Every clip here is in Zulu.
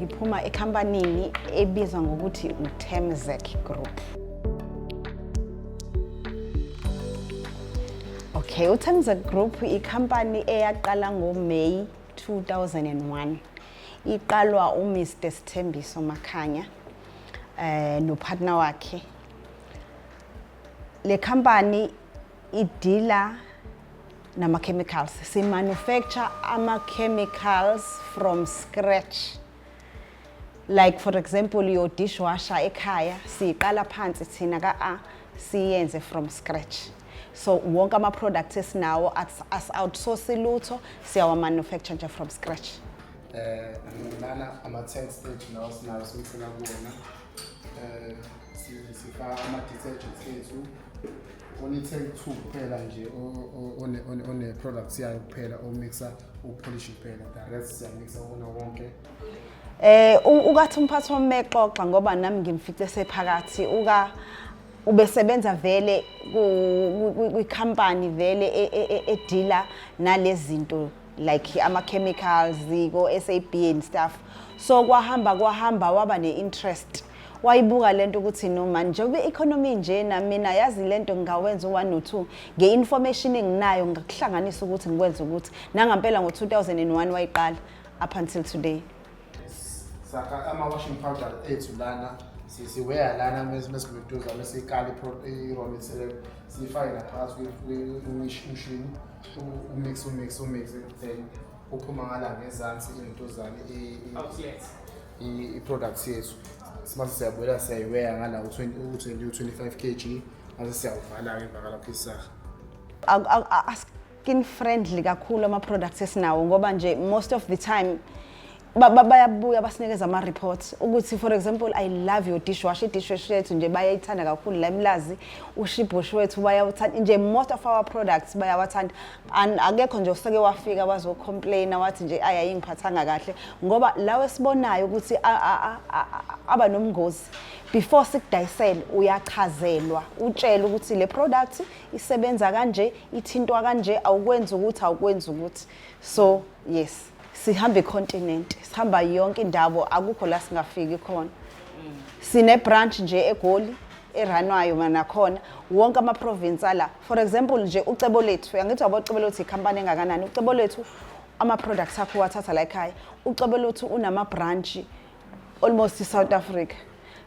ngiphuma ekhampanini ebizwa ngokuthi uTemzek Group Okay, uTemzek Group ikhampani eyaqala ngoMay 2001 iqalwa uMr Sithembiso Makhanya eh nopartner wakhe le company idila nama-chemicals si-manufacture ama-chemicals from scratch like for example your dishwasher ekhaya siyiqala phansi thina ka-a siyenze from scratch so wonke ama-products esinawo as-outsource lutho siyawa-manufacture nje from scratch um eh, nana ama-tanks ethu lawo sinawo simsela kuwona eh sifaka ama detergents ethu only take two kuphela nje one one one products yayo kuphela o mixer u polish kuphela the rest siya mixer wona wonke eh ukathi umphathi wami mexoxa ngoba nami ngimfice sephakathi uka ubesebenza vele kwi company vele edila e, e, e, nalezinto like ama-chemicals ko-sab and stuff so kwahamba kwahamba waba ne-interest wayibuka lento ukuthi no mani njengoba i-economy nje namina yazi lento ngingawenza u-one no two nge-information enginayo ngakuhlanganisa ukuthi ngikwenze ukuthi nangampela ngo-2001 wayiqala up until today sakha ama-washing powder ethu lana siweya lana mesikuduza mesikala i-romiselelo siyifake ngaphakathi kwemishini umix umix umix then uphuma ngala ngezansi into zami i-products yethu simase siyabuyela siyayiweya ngala u-25 kg mase siyawuvala-ke emva kalapho isaha skin friendly kakhulu ama-products esinawo ngoba nje most of the time bayabuya basinikeza ama-reports ukuthi for example i love your dishwash i-dishwash yethu nje bayayithanda kakhulu la emlazi ushibhush wethu bayawuthanda nje most of our products bayawathanda and akekho nje oseke wafika wazocomplaina wathi nje ayi ayingiphathanga kahle ngoba lawo esibonayo ukuthi aba nomngozi before sikudayisele uyachazelwa utshele ukuthi le product isebenza kanje ithintwa kanje awukwenzi ukuthi awukwenzi ukuthi so yes sihamba icontinent sihamba yonke indawo akukho la singafiki khona sine branch nje egoli eranwayo manakhona wonke ama province ala for example nje ucebo lethu yangithi wabo ucebo lethu ikhampani engakanani ucebo lethu ama products akho wathatha la ekhaya ucebo lethu unama branch almost South Africa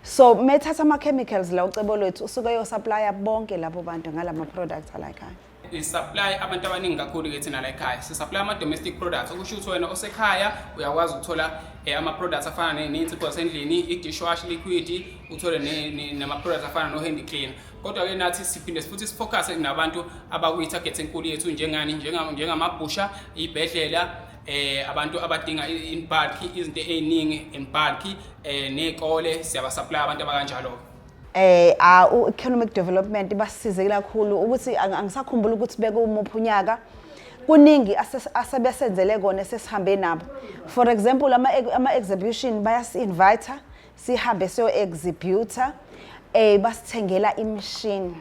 so methatha ama chemicals la ucebo lethu usuke yo supplier bonke labo bantu ngalama products ala ekhaya we supply abantu abaningi kakhulu ke thina la ekhaya si supply ama domestic products okusho ukuthi wena osekhaya uyakwazi ukuthola eh, ama products afana nezinsipho zasendlini i-dishwash liquid uthole nama products afana no handy cleaner kodwa ke nathi siphinde futhi sifocus nabantu abakuyi target enkulu yethu njengani njengamabhusha ibhedlela eh abantu abadinga in bulk izinto eziningi in bulk eh nezikole siyaba supply abantu abakanjalo eh a u economic development ibasize kakhulu ukuthi ang- angisakhumbula ukuthi bekumuphi unyaka kuningi ase- asebesenzele kona esesihambe nabo for example ama ama exhibition bayasi invite sihambe siyo exhibitor eh basithengela imishini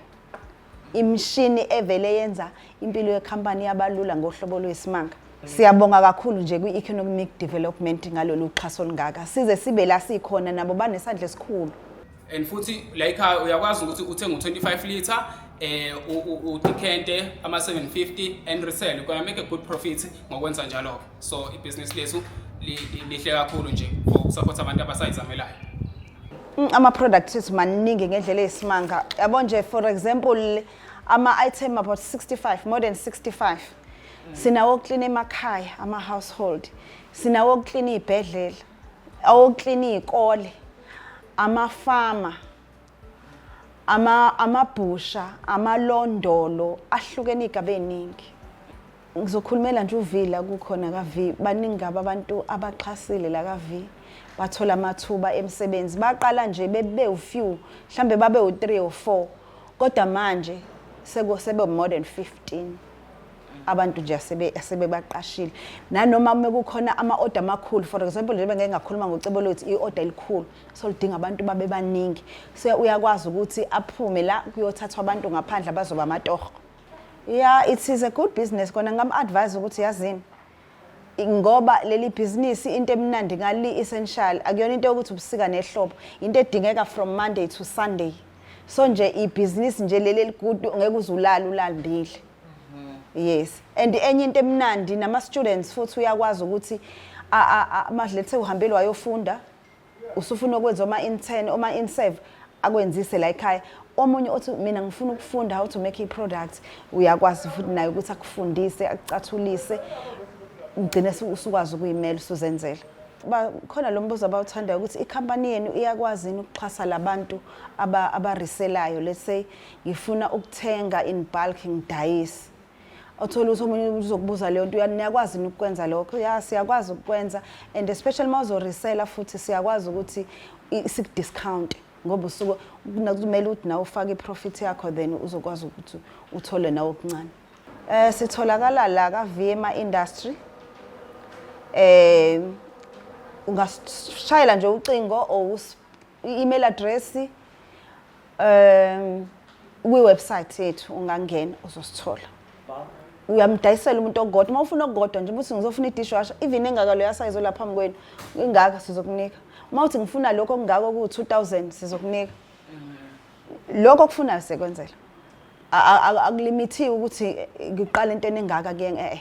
imishini evele yenza impilo yekhampani yabalula ngohlobo lwesimanga Siyabonga kakhulu nje kwi-economic development ngalolu xhaso olungaka. Size sibe la sikhona nabo banesandla esikhulu. And futhi la ikhaya uyakwazi ukuthi uthenge u-25 liter eh udikente ama 750 and resell you can make a good profit ngokwenza njalo ke so ibhizinisi lethu lihle kakhulu nje for support abantu abasayizamelayo Mm, ama-products ethu maningi ngendlela eyisimanga yabo nje for example ama-item about 65 more than 65 sinawo okuklina emakhaya ama-household sinawo okuklina iy'bhedlela awokuklina iy'kole amafama amabhusha amalondolo ahlukene iy'gaba ey'ningi Ngizokhulumela nje uV la kukhona ka V. Baningi kabi abantu abaxhasile la ka V. Bathola amathuba emsebenzi. Baqala nje bebe u few, mhlambe babe u 3 or 4. Kodwa manje seko sebe more than 15 abantu nje asebe asebebaqashile nanoma uma kukhona ama order amakhulu for example njengoba ngeke ngakhuluma ngocebo lwethu i order elikhulu so lidinga abantu babe baningi so uyakwazi ukuthi aphume la kuyothathwa abantu ngaphandle abazoba amatoho Yeah, it is a good business kona ngam advise ukuthi yazini ngoba leli bhizinisi into emnandi ngali essential akuyona into yokuthi ubusika nehlobo into edingeka from Monday to Sunday so nje ibhizinisi nje leli eligudu ngeke uzulala ulandile yes and enye into emnandi nama students futhi uyakwazi ukuthi ama lethe uhambelwa yofunda usufuna ukwenza oma intern oma inserve akwenzise la ekhaya omunye othi mina ngifuna ukufunda how to make a product uyakwazi futhi naye ukuthi akufundise akucathulise ugcine usukwazi ukuyimela usuzenzela khona lo mbuzo abawuthandayo ukuthi ikhampani yenu iyakwazi yini ukuxhasa labantu abariselayo let's say ngifuna ukuthenga in bulk ngidayise othola ukuthi omunye umuntu uzokubuza leyo nto niyakwazi yini ukukwenza lokho ya siyakwazi ukukwenza and especially uma uzorisela futhi siyakwazi ukuthi sikudiscount ngoba usuke kumele ukuthi nawe ufake iprofit yakho then uzokwazi ukuthi uthole nawe okuncane eh sitholakala la ka VMA industry eh ungashayela nje ucingo or i-email address um kwi-website yethu ungangena uzosithola uyamdayisela umuntu ogodwa uma ufuna okukodwa nje ukuthi ngizofuna i-dishwasher even engaka leyo asayizo la phambi kwenu ingaka sizokunika uma uthi ngifuna lokho okungako kuwu-two thousand sizokunika lokho okufunayo siyekwenzela akulimithiwe ukuthi ngiqale into eningaka kuyena e-e